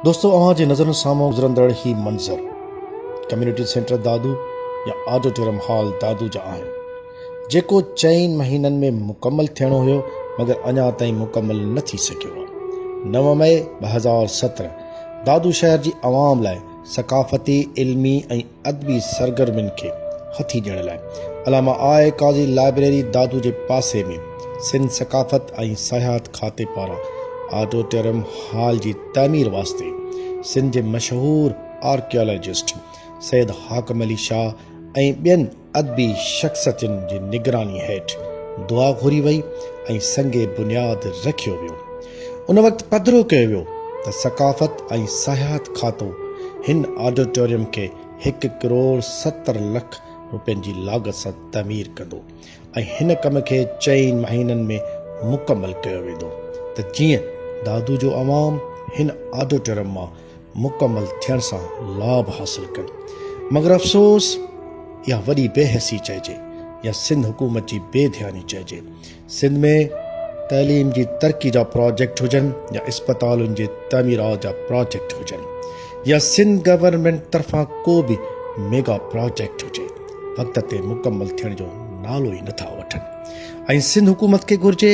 دوستو اوهان جي نظرن سامهون گذرندڙ هي منظر ڪميونٽي سينٽر دادو يا آڊيٽوريم هال دادو جا آهن جيڪو چئن مهينن ۾ مڪمل ٿيڻو هيو مگر اڃا تائين مڪمل نه ٿي سگهيو آهي نو مئي ٻه هزار سترهن دادو شهر جي عوام لاء ثقافتي علمي ۽ ادبي سرگرمين کي هٿي ڏيڻ لاء علامه آء قاضي لائبريري دادو جي پاسي ۾ سنڌ ثقافت ۽ سياحت کاتي پاران آڊوٽيرم هال جي تعمير واسطي سنڌ جي مشهور آرڪيالاجسٽ سيد حاڪم علي شاهه ۽ ٻين ادبي شخصيتن جي نگراني هيٺ دعا گهري وئي ۽ سنگ بنياد رکيو ويو. ان وقت پڌرو ڪيو ويو ته ثقافت ۽ سياحت کاتو هن آڊيٽوريم کي هڪ ڪروڙ ستر لک روپين جي لاڳت سان تعمير ڪندو ۽ هن ڪم کي چئن مهينن ۾ مڪمل ڪيو ويندو ته جيئن دادو جو عوام هن آڊيٽوريم مان مڪمل ٿيڻ سان لاڀ حاصل ڪن مگر افسوس يا وڏي بي حسي چئجي يا سنڌ حڪومت جي بي ڌياني چئجي سنڌ ۾ تعليم جي ترقي جا پروجيڪٽ هجن يا اسپتالن جي تعميرات جا پروجيڪٽ هجن يا سنڌ گورنمنٽ طرفان ڪو به ميگا پروجيڪٽ هجي وقت تي مڪمل ٿيڻ جو نالو ئي نٿا وٺن ۽ سنڌ حڪومت کي گهرجي